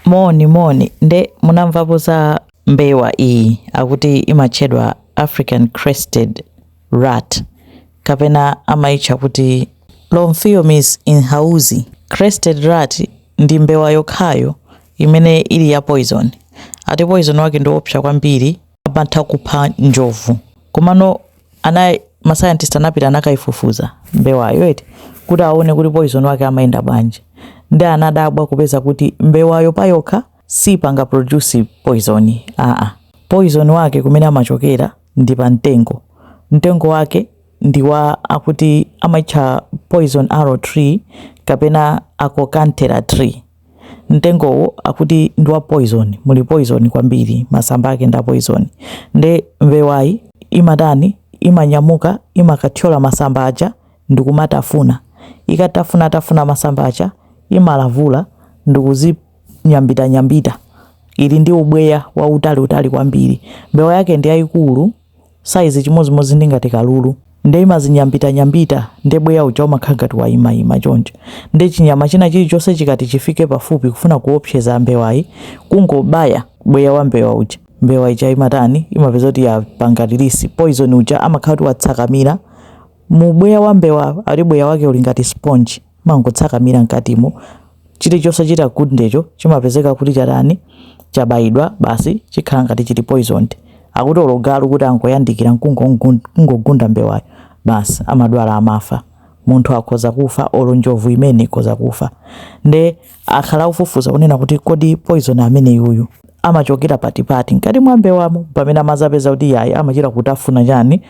Moni moni nde munamvapo za mbewa iyi akuti imatchedwa African crested rat kapena amaitcha kuti Lophiomys imhausi crested rat ndi mbewa yokhayo imene ili ya poison ati poison wake ndiopsa kwambiri amatha kupha njovu komano ana ma scientist anapita anakaifufuza mbewayo eti kuti aone kuti poison wake amayenda bwanji ndi anadabwa kupeza kuti mbewayo payokha sipanga produce poison aa poison wake kumene amachokera ndi pa mtengo mtengo wake ndi wa akuti amaitcha poison arrow tree kapena Acokanthera tree mtengowo akuti ndi wa poison muli poison kwambiri masamba ake ndi a poison nde mbewayi imatani imanyamuka imakathyola masamba aja ndikumatafuna ikatafuna tafuna masamba aja imalavula ndikuzinyambita nyambita ili ndi ubweya wautali utali kwambiri mbewa yake ndi yayikulu size chimodzimodzi ndi ngati kalulu nde imazinyambitanyambita nde bweya uja umakhala ngati wayimayima choncho nde chinyama china chilichonse chikati chifike pafupi kufuna kuopseza mbewayi kungobaya bweya wa mbewa uja mbewa ija imatani imapeza kuti yapanga release poison uja amakhala kuti watsakamira mu bweya wa mbewa ati bweya wake uli ngati sponge Umangotsakamira mkatimo, chilichonse chitagundecho chimapezeka kuti chatani, chabayidwa basi chikhala ngati chili poisoned. Akuti olo galu kuti angoyandikira nkungogunda mbewayo, basi amadwala amafa. Munthu akhoza kufa olo njovu imene ikhoza kufa. Nde akhala akufufuza kunena kuti kodi poison ameneyuyu amachokera patipati mkati mwa mbewamo mpamene amazapeza kuti iyayi amachita kutafuna chani,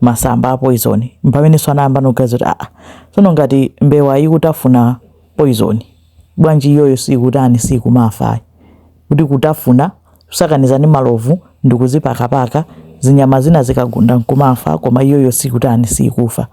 masamba a poizoni, m'pameneno anayambano kuganiza kuti, Aa, tsono ngati mbewa ikutafuna poizoni, bwanji iyoyo siikutani, siikumafa ayi? Kuti kutafuna, kusakaniza ndi malovu ndi kuzipakapaka, zinyama zina zikagunda nkumafa, koma iyoyo siikutani, siikufa.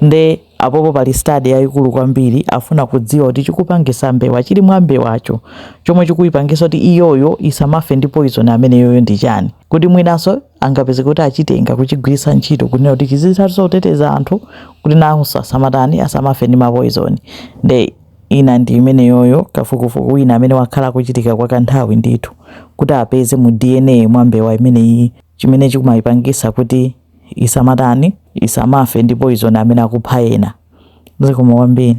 Nde apopo pali study yaikulu kwambiri, afuna kudziwa kuti chikupangisa mbewa, chili mwa mbewacho, chomwe chikuipangisa kuti iyoyo isamafe ndi poizoni ameneyuyo ndi chani. Kuti mwinanso. angapeze kuti achitenga kuchigwiritsa ntchito kunena kuti chizithano kuteteza anthu kuti nawonso asamatani asamafe ndi mapoizoni nde ina ndi imeneyoyo kafukufuku wina amene wakhala akuchitika kwa kanthawi ndithu kuti apeze mu dna mwa mbewa imeneyi chimene chikumayipangisa kuti isamatani isamafe ndi poizoni amene akupha ena zikomo kwambiri